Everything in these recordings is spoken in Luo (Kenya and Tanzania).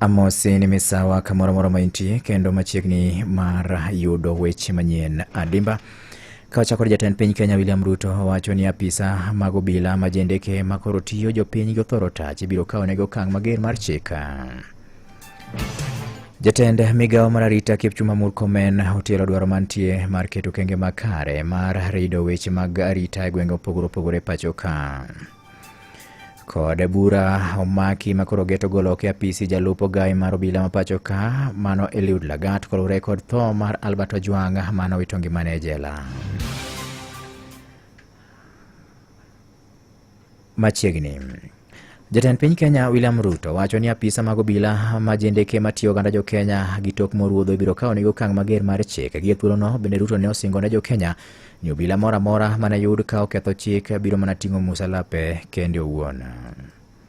Amosi ni misawa kamoro moro ma intie kendo machiegni mar yudo weche manyien adimba. Ka wachako ni jatend piny Kenya William Ruto wacho ni apisa mag obila ma jendeke ma koro tiyo jopiny gothoro tach ibiro kawo negi okang' mager mar chika. Jatend migawo mar arita Kipchumba Murkomen otielo dwaro mantie mar keto kenge makare mar rido weche mag arita e gwenge opogore opogore pacho ka. Kod bura omaki ma koro geto golo oko e apisi jalup ogayi mar obila ma pacho ka mano Eliud Lagat kolure kod tho mar Albert Ojwang mano wito ngimane e jela. machiegni. Jatend piny Kenya William Ruto wacho ni apisa mag obila ma jendeke matiyo oganda jo Kenya gi tok moruodho ibiro kawo nigi okang' mager mar chik. Gie thuolono bende Ruto ne osingo ne jo Kenya ni obila moro amora mane yud ka oketho chik biro mana ting'o musalape kende owuon.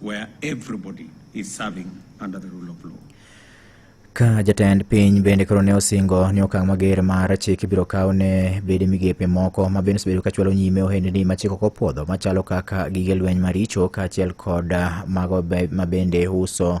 where everybody is serving under the rule of law. Ka jatend piny bende koro ne osingo ni okang' mager mar chik ibiro kaw ne bede migepe moko ma bende osebedo kachwalo nyime ohendni ma chik ok opwodho machalo kaka gige lweny maricho kaachiel kod mago be- ma bende uso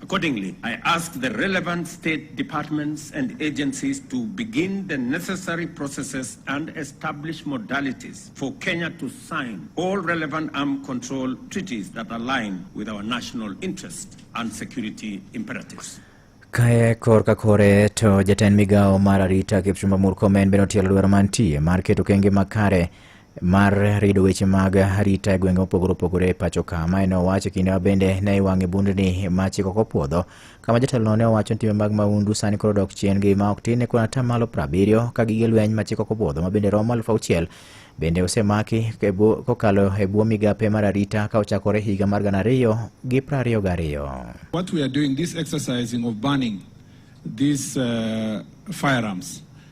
Accordingly, I ask the relevant state departments and agencies to begin the necessary processes and establish modalities for Kenya to sign all relevant arm control treaties that align with our national interests and security imperatives. Kae korka kore to jatend migawo mar arita Kipchumba Murkomen bende otielo dwaro mantie mar keto okenge makare mar rido weche mag arita e gwenge mopogore opogore e pacho ka ma ne owacho kinde ma bende ne iwang'e bundni ma chik ok opwodho kama jatelono ne owacho ni timbe mag mahundu sani koro dok chien gi ma ok tin ne kuon atamalo prabiriyo ka gige lweny ma chik ok opwodho ma bende romo aluf auchiel bende osemaki e bwo- kokalo e bwo migape mar arita ka ochakore higa mar gana ariyo gi prariyo gariyo What we are doing, this exercising of banning these uh, firearms,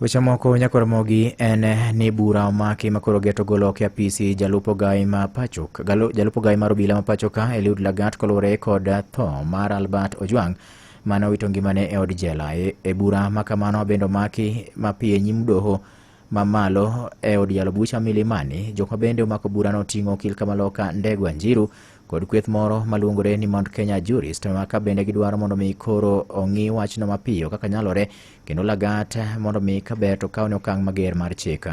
Weche moko nyakoromogi en ni bura omaki makoro geto golo oko e apisi jalup ogayi ma pachoka galo- jalup ogayi mar obila ma pachoka Eliud Lagat koluwore kod tho mar Albert Ojwang mane owito ngimane e od jela. E, e bura ma kamano bende omaki mapiyo e nyim doho mamalo e od yalo bucha Milimani, jok ma bende omako burano oting'o okil Kamaloka Ndegwa Njiru kod kweth moro maluongore ni Mount Kenya Jurist ma ka bende gidwaro mondo mi koro ong'i wachno mapiyo kaka nyalore kendo lagat mondo mi ka ber to kawne okang' mager mar chik.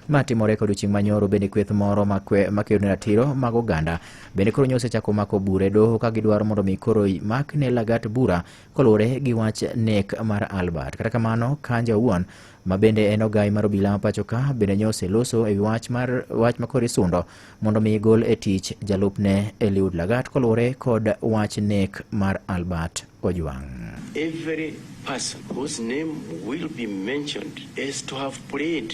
Ma timore kod chieng' manyoro bende kweth moro makwe- makedo ne ratiro mag oganda bende koro nyose chako mako bure doho ka gidwaro mondo mi koro makne lagat bura koluwore gi wach nek mar Albert. Kata kamano, Kanja owuon ma bende en ogai mar obila ma pacho ka bende nyo oseloso e wi wach mar wach makor isundo mondo mi gol e tich jalupne Eliud Lagat koluwore kod wach nek mar Albert Ojwang'. Every person whose name will be mentioned is to have played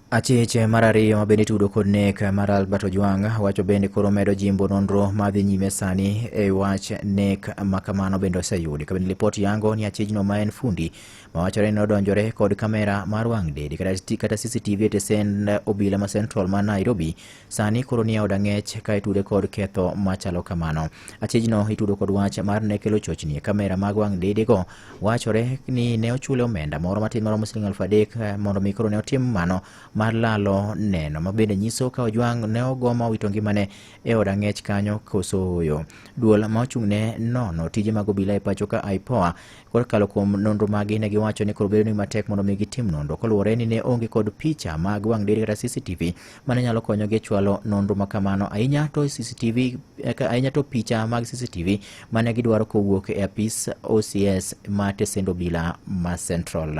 Achich mar ariyo ma bende itudo kod nek mar Albert Ojwang wacho bende koro medo jimbo nonro ma dhi nyime sani e wach nek ma kamano bende oseyudi. Kabende lipot yango ni achijno ma en fundi ma wachore ni odonjore kod kamera mar wang' dede kata CCTV e tesend obila ma Central ma Nairobi sani koro ni e od ang'ech ka itude kod ketho machalo kamano. Achijno itudo kod wach mar ne kelo chochni e kamera mag wang' didego. Wachore ni ne ochule omenda moro matin maromo siling aluf adek eh, mondo mi koro ne otim mano mar lalo neno ma bende nyiso ka Ojwang' ne ogo ma owito ngimane e od ang'ech kanyo koso oyo. Duol ma ochung' ne nono tije mag obila e pacho ka IPOA kokalo kuom nonro magi ne giwacho ni koro bedo ni matek mondo mi gitim nonro koluwore ni ne onge kod picha mag wang' dede kata CCTV Mano nyalo konyogi e chwalo nonro ma kamano, ahinya to CCTV, eh, ahinya to picha mag CCTV ma ne gidwaro kowuok e apis OCS ma Tesendo Bila ma Central.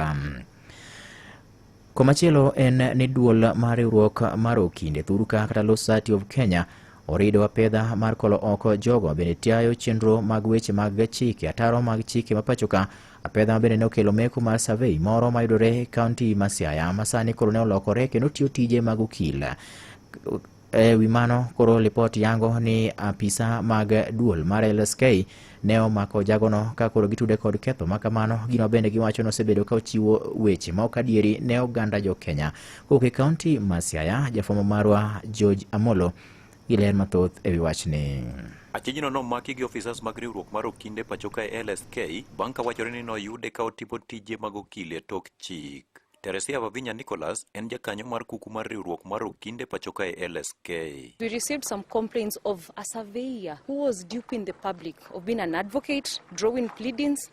Komachielo en ni duol mar riwruok mar Okinde Thuruka kata Law Society of Kenya orido apedha mar kolo oko jogo bende tiayo chenro mag weche mag chike ataro mag chike ma pachoka Apedha bende ne okelo meko mar survey moro mayudore e kaunti ma Siaya ma sani koro ne olokore kendo tiyo tije mag okil. E wi mano, koro lipot yango ni apisa mag duol mar LSK ne omako jagono ka koro gitude kod ketho ma kamano. Gino bende giwacho ni osebedo ka ochiwo weche ma ok adieri ne oganda jo Kenya. Kowuok e kaunti ma Siaya, jafwambo marwa George Amolo gi ler mathoth e wi wachni. Achijno nomaki gi ofisas mag riwruok mar okinde pacho kae LSK bang' ka wachore ni noyude ka otimo tije mag okil e tok chik. Teresia Vavinya Nicholas en jakanyo mar kuku mar riwruok mar okinde pacho kae LSK. We received some complaints of a surveyor who was duping the public of being an advocate, drawing pleadings,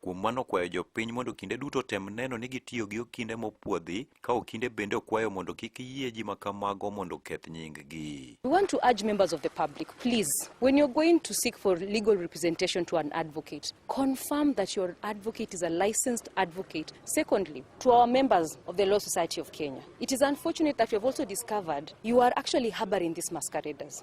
Kuom mano okwayo jopiny mondo kinde duto otem neno ni gitiyo gi okinde mopwodhi, ka okinde bende okwayo mondo kik yie ji ma kamago mondo oketh nyinggi. We want to urge members of the public, please, when you're going to seek for legal representation to an advocate, confirm that your advocate is a licensed advocate. Secondly, to our members of the Law Society of Kenya, it is unfortunate that we have also discovered you are actually harboring these masqueraders.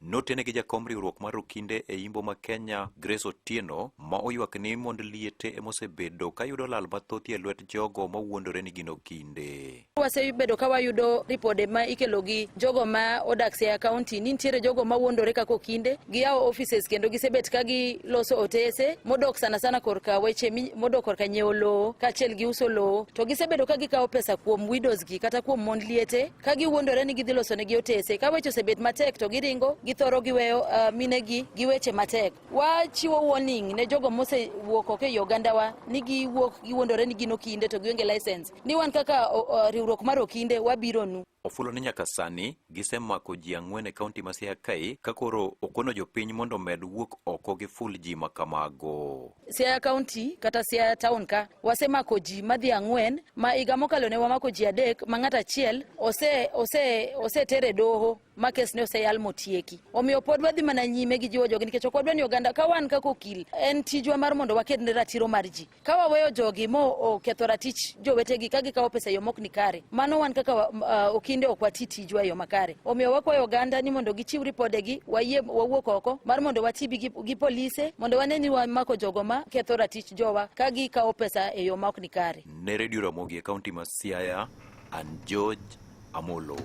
Notene gi jakom riwruok mar Okinde e Imbo ma Kenya, Grace Otieno, ma oywak ni mond liete emosebedo kayudo lal mathoth e lwet jogo mawuondore ni gin Okinde. Wasebedo ka wayudo ripode ma ikelo gi jogo ma odak Siaya County ni nitiere jogo ma wuondore kaka Okinde, giyawo offices kendo gisebet ka giloso otese modok sana sana korka weche modok korka nyiewo lowo kaachiel gi uso lowo. To gisebedo ka gikawo pesa kuom widows gi kata kuom mond liete ka giwuondore ni gidhi loso negi otese ka weche osebet matek to giringo githoro giweyo uh, minegi gi weche matek wachiwo warning ne jogo mosewuok oko e ogandawa ni giwuok giwuondore ni gin okinde to gionge license ni wan kaka uh, riwruok mar okinde wabironu ofulo ni nyaka sani gisemako ji ang'wen e kaunti ma Siaya Kae ka koro okono jopiny mondo omed wuok oko gi ful ji ma kamago. Siaya County kata Siaya Town ka wasemako ji madhi ang'wen ma higa mokalo ne wamako ji adek ma ng'at achiel ose ose osetere doho ma kes ne oseyal motieki. Omiyo pod wadhi mana nyime gi jiwo jogi nikech ok wadwa ni oganda ka wan kaka okil en tijwa mar mondo waked ne ratiro mar ji. Ka waweyo jogi mo oketho ratich jowetegi ka gikawo pesa e yo mok ni kare, mano wan kaka uh, okinde ok wati tij tijwa e yo makare. Omiyo wakwayo oganda ni mondo gichiw ripodegi, wayie wawuok oko mar mondo wati gi, gi polise mondo wane ni wamako jogo ma ketho ratich jowa ka gikawo pesa e yo ma ok ni kare. Ne Radio Ramogi e kaunti ma Siaya, an George Amolo.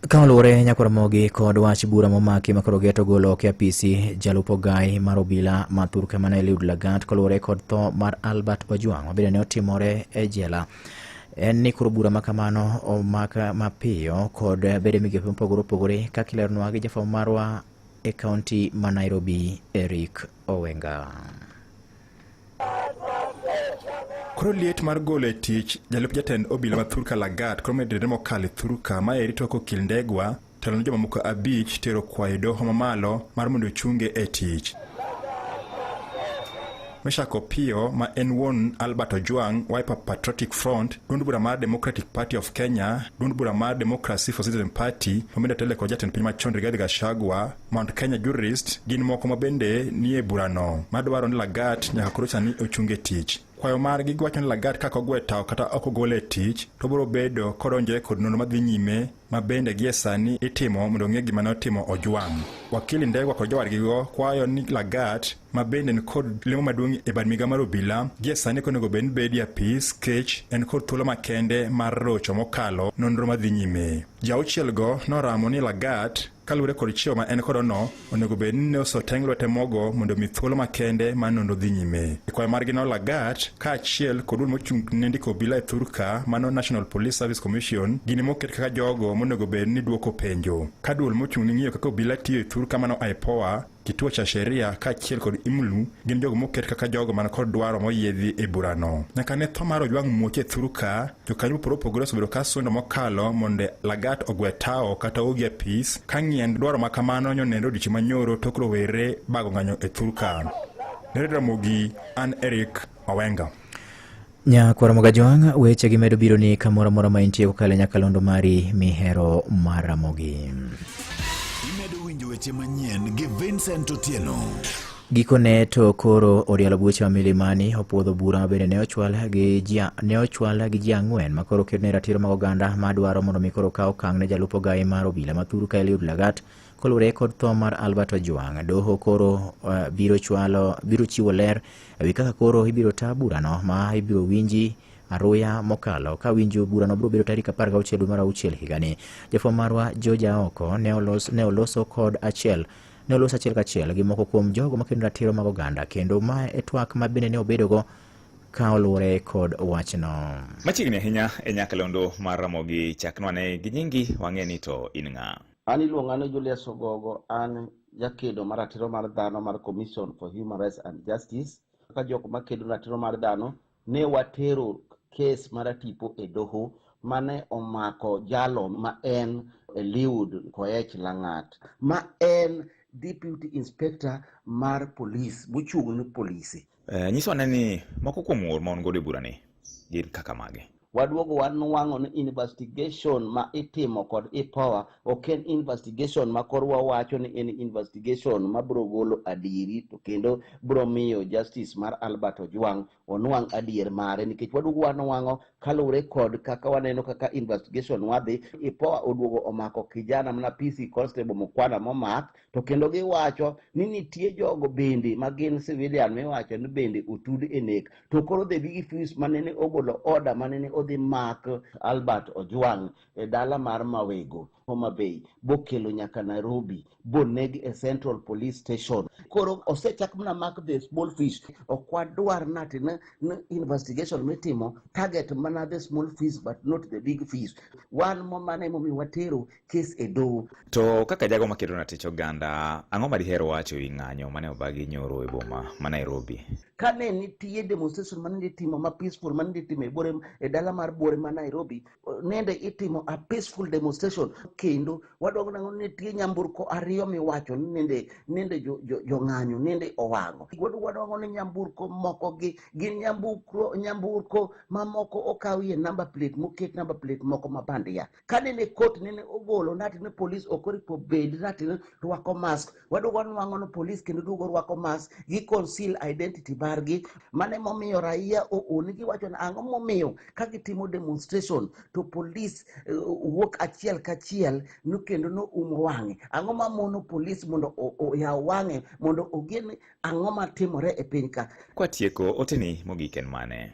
Ka oluwore nyakoro mogi kod wach bura momaki makoro geto golo oke apisi jalup ogai mar obila ma thurka mane Eliud Lagat koluwore kod tho mar Albert Ojwang' mabende ne otimore e jela en ni koro bura ma kamano omaka mapiyo kod bedo migepe mopogore opogore kaka ileronwa gi jafwambo marwa e kaunti ma Nairobi Eric Owenga. Koro liet mar golo e tich jalup jatend obila ma Thurka Lagat koro medre mokalo e Thurka ma eri toko Kindegwa telo ne jomamoko abich tero kwayo doho mamalo mar mondo ochunge e tich Meshak Opiyo ma en wuon Albert Ojwang, Wiper Patriotic Front, duond bura mar Democratic Party of Kenya, duond bura mar Democracy for Citizen Party, Omenda Tele kod jatend piny machon Rigathi Gachagua, Mount Kenya Jurist gin moko ma bende nie burano madwaro ni Lagat nyaka koro sani ochunge tich. kwayo margi giwacho ni Lagat kaka ogwe tawo kata ok ogole e tich to biro bedo kodonjore kod nonro madhi nyime ma bende gie sani itimo mondo ong'e gima ne otimo Ojwang'. Wakili Ndegwa kod jowadgigo kwayo ni Lagat ma bende ni kod lemo maduong' e bad miga mar obila gie sani konego bed ni bedi apis kech en kod thuolo makende mar rocho mokalo nonro madhi nyime. Jauchielgo noramo ni Lagat Kaluwore kod chiewo ma en kodono, onego bed ni ne osoteng lwete mogo mondo omi thuolo makende ma nono dhi nyime. E kwayo margi no Lagat, kaachiel kod duol mochung' ne ndiko obila e thurka mano National Police Service Commission, gini moket kaka jogo monego bed ni dwoko penjo. Ka duol mochung' ne ng'iyo kaka obila tiyo e thurka mano IPOA, Kituo cha Sheria kaachiel kod IMLU gin jogo moket kaka jogo man kod dwaro moyiedhi e burano. Nyaka ne tho mar Ojwang' Muoche thuru ka, jokanyo mopogore opogore osebedo ka sundo mokalo mondo Lagat ogwe tawo kata ogi apis ka ng'iend dwaro ma kamano nyonenre odiechieng' manyoro tok rowere bago ng'anyo e thur ka. Nere Ramogi, an Eric Owenga. Nyakwar Mogajwang', weche gi medo biro ni kamoro amora ma intie kokalo e nyakalondo mari mihero maramogi. Imedo winjo weche manyien gi Vincent Otieno. Gikone to koro Orialo Bucha Milimani opuodho bura ma bende ne ochwal gi ji ne ochwal gi ji ang'wen ma koro oket ne ratiro mag oganda ma dwaro mondo mi koro kaw okang' ne jalup ogayi mar obila ma thuru ka Eliud Lagat Kolure kod tho mar Albert Ojwang, doho koro uh, biro chwalo biro chiwo ler ewi kaka koro ibiro ta burano ma ibiro winji aruya mokalo ka winjo burano biro bedo tarik 16 dwe mar auchiel higani. Jafwambo marwa George Aoko ne olos, ne oloso kod achiel ne olos achiel kachiel gi moko kuom jogo makedo ratiro mag oganda kendo ma e twak ma bende ne obedogo ka oluwore kod wachno. Machiegni ahinya e nyakalondo mar Ramogi chaknwa ne gi nyingi wang'e ni to in ng'a. An iluonga ni Julius Ogogo, an jakedo mar ratiro mar dhano mar Commission for Human Rights and Justice. Ka jok makedo ratiro mar dhano ne watero kes mar tipo e doho mane omako jalo ma en Eliud Koech Langat ma en Deputy Inspector mar Police mochung' ne polise. Eh, nyiso ane ni moko kuom ng'ur ma wan godo e burani gin kaka mage. Waduogo wanwang'o ni investigation ma itimo kod IPOA ok en investigation ma kor wawacho ni en investigation ma biro golo adieri to kendo biro miyo justice mar Albert Ojwang onwang' adier mare nikech waduogo wanwang'o kaluwore kod kaka waneno kaka investigation wadhi IPOA oduogo omako kijana mana PC Constable Mukwana momak to kendo giwacho ni nitie jogo bende ma gin civilian miwacho ni bende otud e nek to koro the big fis manene ogolo oda manene odhi mak albert ojwang e dala mar mawego homa bay bokelo nyaka nairobi boneg e central police station koro osechak mana mak the small fish ok wadwar nati ni investigation mitimo target mana the small fish but not the big fish wan momane momi watero kes e doho. To kaka jago makedo ratich oganda, ang'o ma diher wacho e wi ng'anyo mane obagi nyoro e boma ma Nairobi? Kane nitie demonstration mane itimo ma peaceful mane itimo e bore e dala mar bore ma Nairobi, nende itimo a peaceful demonstration kendo wadwaro nang'o ni nitie nyamburko ariyo miwacho ni nende nende jo- jo- jong'anyo nende owang'o. Wadwaro ni nyamburko moko gi gin nyamburko nyamburko mamoko okawie number plate moket number plate moko ma bandia. kane ne kot nene ogolo nati ne polis ok oripo bed nati ne rwako mask waduogo wanwang'o ni polis kendo duogo rwako mask gi conceal identity margi mane momiyo raia ool giwacho ni ang'o momiyo ka gitimo demonstration to polis eh, wuok achiel kachiel no kendo no umo wang'e ang'o ma mono polis mondo o- oyaw wang'e mondo ogen ang'o matimore e piny ka Kwatieko oteni mogik en mane?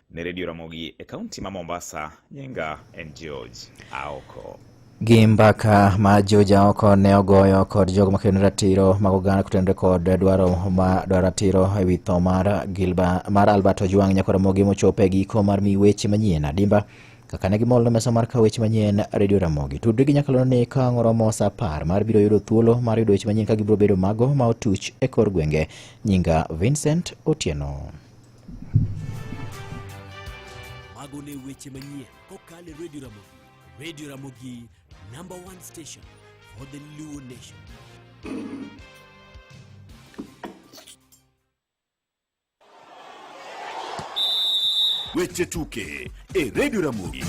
Ni Redio Ramogi e kaunti ma Mombasa, nyinga en George Aoko. gi mbaka ma George Aoko ne ogoyo kod jogo makedo ne ratiro mag oganda kotenore kod dwaro ma dwaro ratiro e wi tho mar Gilba mar Albert Ojwang Nyakwar Ramogi mochopo e giko mar mi weche manyien adimba kaka ne gimol no mesa mar kawo weche manyien Radio Ramogi tudri gi nyakalono ni ka ang' oromo sa apar mar biro yudo thuolo mar yudo weche manyien ka gibiro bedo mago ma otuch e kor gwenge nyinga Vincent Otieno Mago ne weche manyien kokalo e Radio Ramogi. Radio Ramogi, number one station for the Luo Nation. Weche tuke e Radio Ramogi.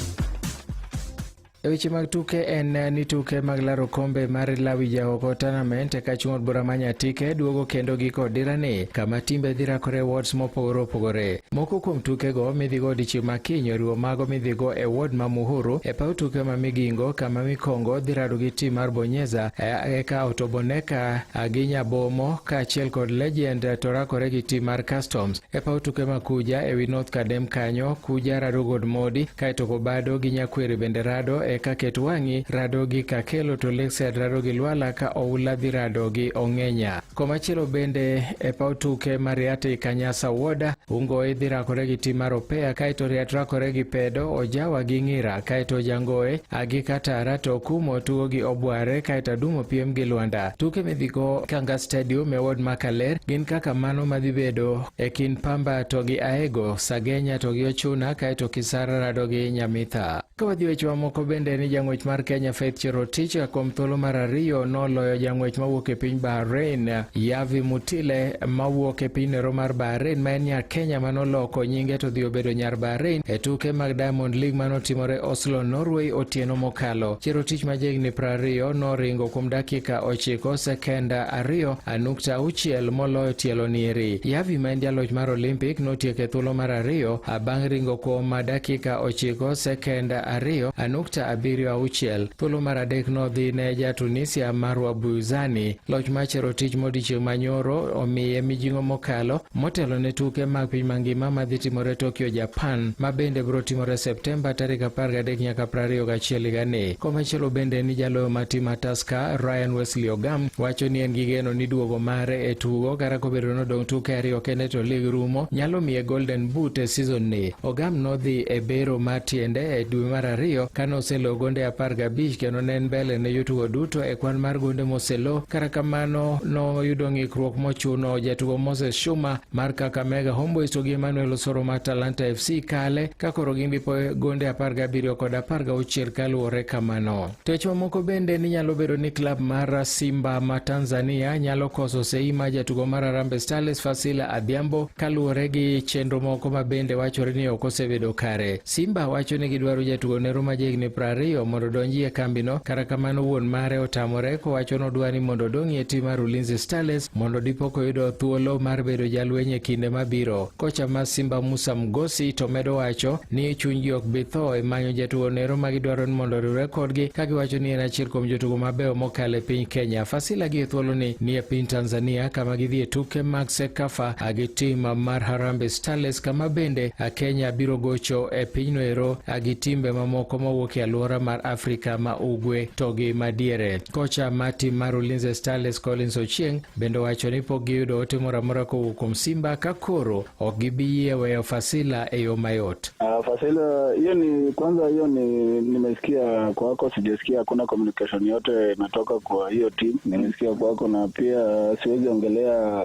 E weche mag tuke en eh, ni tuke mag laro kombe mar Lawi Jaoko Tournament eka chung' od bura ma Nyatike duogo kendo giko dirani kama timbe dhi rakore wards mopogore opogore. Moko kuom tukego midhigo odiechieng' ma kiny oriwo mago midhigo e ward ma Muhuru e paw tuke ma Migingo kama Mikongo dhi rado gi tim mar Bonyeza eh, eka Otoboneka eh, gi Nyabomo kaachiel kod Legend to rakore gi tim mar Customs. E paw tuke ma Kuja e wi North Kadem kanyo, Kuja rado god Modi, kaeto Kobado gi Nyakweri bende rado, eka Ketwang'i rado gi Kakelo to Lakeside rado gi Lwala ka Oula dhi rado gi Ong'enya. Komachielo bende e paw tuke ma Riat i Kanyasa Woda, Ungoe dhi rakore gi tim mar Opeya, kaeto Riat rakore gi Pedo, Ojawa gi Ng'ira, kaeto Jangoe agi Katara to Okumo tugo gi Obware, kaeto Adumo piem gi Lwanda. Tuke midhigo Kanga Stadium e ward ma Kaler gin kaka mano madhi bedo e kind Pamba to gi Aego, Sagenya to gi Ochuna kaeto Kisara rado gi Nyamitha. Ka wadhi weche mamoko bende ni jang'wech mar Kenya Faith Cherotich kuom thuolo mar ariyo noloyo jang'wech mawuok e piny Bahrain Yavi Mutile mawuok e piny nero mar Bahrain ma en nya Kenya manoloko nyinge to dhi obedo nyar Bahrain e tuke mag Diamond League manotimore Oslo, Norway otieno mokalo. Cherotich ma jahigni prariyo noringo dakika ochiko sekenda ariyo nukta auchiel moloyo tielo nieri. Yavi ma en jaloch mar Olimpik notieko e thuolo mar ariyo bang' ringo kuom dakika ochiko sekenda ariyo nukta abiriyo auchiel. Thuolo mar adek nodhi ne ja Tunisia Marwa Buzani. Loch ma Cherotich modiechieng' manyoro omiye mijing'o mokalo motelo ne tuke mag piny mangima madhi timore Tokyo, Japan ma bende biro timore Septemba tarik 13 nyaka 21 higani. Komachielo bende ni jaloyo ma tim Tusker Ryan Wesley Ogam wacho ni en gi geno ni duogo mare e tugo kata kobedo ni odong' tuke ariyo kende to lig rumo nyalo miye Golden Boot e season ni. Ogam nodhi e bero mar tiende e dwe mar ariyo kane oselo gonde apar gabich kendo ne en mbele ne jotugo duto e kwan mar gonde moselo. Kata kamano noyudo ng'ikruok mochuno jatugo Moses Shuma mar Kakamega Homeboys to gi Emmanuel Osoro mar Talanta FC kale ka koro gin gi gonde 17 kod 16 kaluwore kamano. Tech mamoko bende ni nyalo bedo ni klab mar Simba ma Tanzania nyalo koso sei ma jatugo mar Harambee Starlets Fasila Adhiambo kaluwore gi chenro moko ma bende wachore ni ok osebedo kare. Simba wacho ni gidwaro jatugo ne Roma jahigni prariyo mondo odonji e kambino, kata kamano wuon mare otamore kowacho ni odwa ni mondo odong' e tim mar Ulinzi Starlets mondo dipo koyudo thuolo mar bedo jalweny e kinde mabiro. Kocha ma Simba Musa Mgosi to medo wacho ni chunygi ok bi tho e manyo jatugo ne Roma gidwaro ni mondo oriwre kodgi ka giwacho ni en achiel kuom jotugo mabeyo mokalo e piny Kenya. Fasila gi e thuoloni ni e piny Tanzania kama gidhi e tuke mag Sekafa gi tim mar Harambee Starlets kama bende a Kenya biro gocho e pinyno ero a gi timbe mamoko mawuok e alwora mar Afrika ma Ugwe to gi madiere. Kocha ma tim mar Ulinzi Starlets Collins Ochieng bende owacho ni pok giyudo ote moro amora kowuok kuom Simba ka koro ok gibi yie weyo Fasila e yo mayot. Uh, Fasila hiyo ni kwanza, hiyo ni nimesikia kwako, sijasikia hakuna communication yote imetoka kwa hiyo team. Nimesikia kwako na pia siwezi ongelea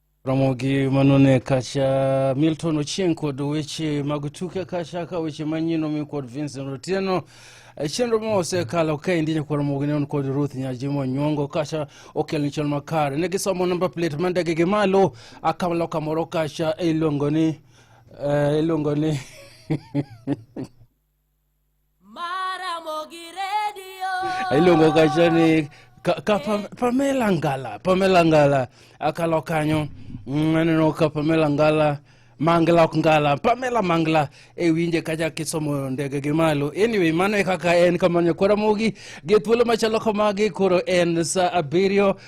Ramogi Manone Kacha, Milton Ochieng kod weche mag tuke Kacha ka weche manyien omi kod Vincent Otieno e chenro ma osekalo ka endi nyakwar Ramogi ne on kod Ruth Nyajimo Nyongo Kacha okel ni chon makare ne gisomo namba plate ma ndege gi malo akamalo kamoro Kacha iluongo ni uh, iluongo ni iluongo kacha ni ka, ka pa, Pamela Ngala Pamela Ngala akalo kanyo mm, aneno ka Pamela Ngala Mangla ok Ngala Pamela Mangla e winje kacha kisomo ndege gi malo anyway mano e kaka en kamano nyakwara mogi gi thuolo machalo kamagi koro en sa abiriyo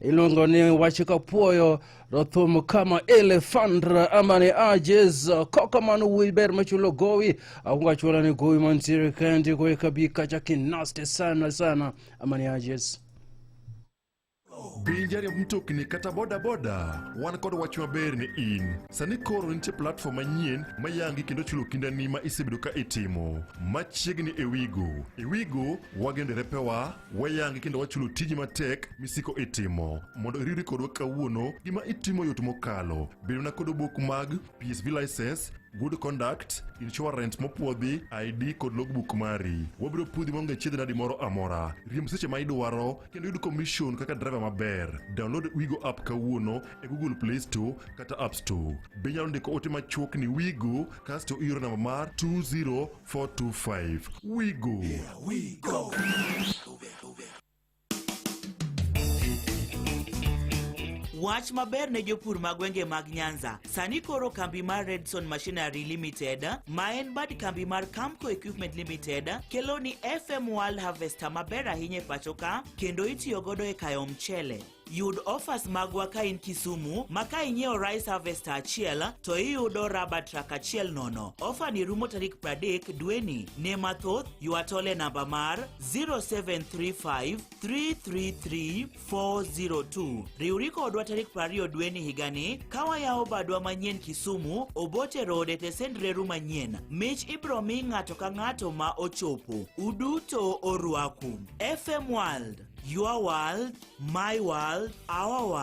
iluongo ni wach kapwoyo to thum kama elefandra ama ni ajes kokamano wuoyi ber machulo gowi akungo achuola ni gowi mantiere kandi gowi kabi kacha kinaste sana sana ama ni ajes Bei jariemb mtokni kata bodaboda wan kod wach maber ni in. Sani koro nitie platform manyien ma yangi kendo chulo kindani ma isebedo ka itimo. Machiegni e Wigo. E Wigo wagendo repewa Wayangi kendo wachulo tiji matek misiko itimo. Mondo iriwri kodwa kawuono, gima itimo yot mokalo. Bedona kod obok mag PSV license, good conduct, insurance mopwodhi, ID kod logbook mari. Wabiro pudhi maonge chiedh nadi moro amora. Riemb seche ma idwaro kendo yud commission kaka driver maber. Download Wigo app kawuono e Google Play Store kata App Store. Be inyalo ndiko ote machuok ni Wigo kasto ioro namba mar 20 425. We go. Yeah, we go. Wach maber ne jopur ma gwenge mag Nyanza. Sani koro kambi mar Redson Machinery Limited ma en bad kambi mar Camco Equipment Limited kelo ni FM World Harvester maber ahinya e pacho ka kendo itiyo godo e kayo mchele. Yud offers magwa ka in Kisumu ma ka inyiewo rice harvester achiel to iyudo raba truck achiel nono. Offer ni rumo tarik 30 dweni. Ne mathoth, ywa tole namba mar 0735 333 402. Riwri kodwa tarik 20 dweni higani ka wayawo badwa manyien Kisumu, Obote Road e tesend reru manyien. Mich ibro mi ng'ato ka ng'ato ma ochopo. Uduto orwaku. FM World, your world, my world, our world.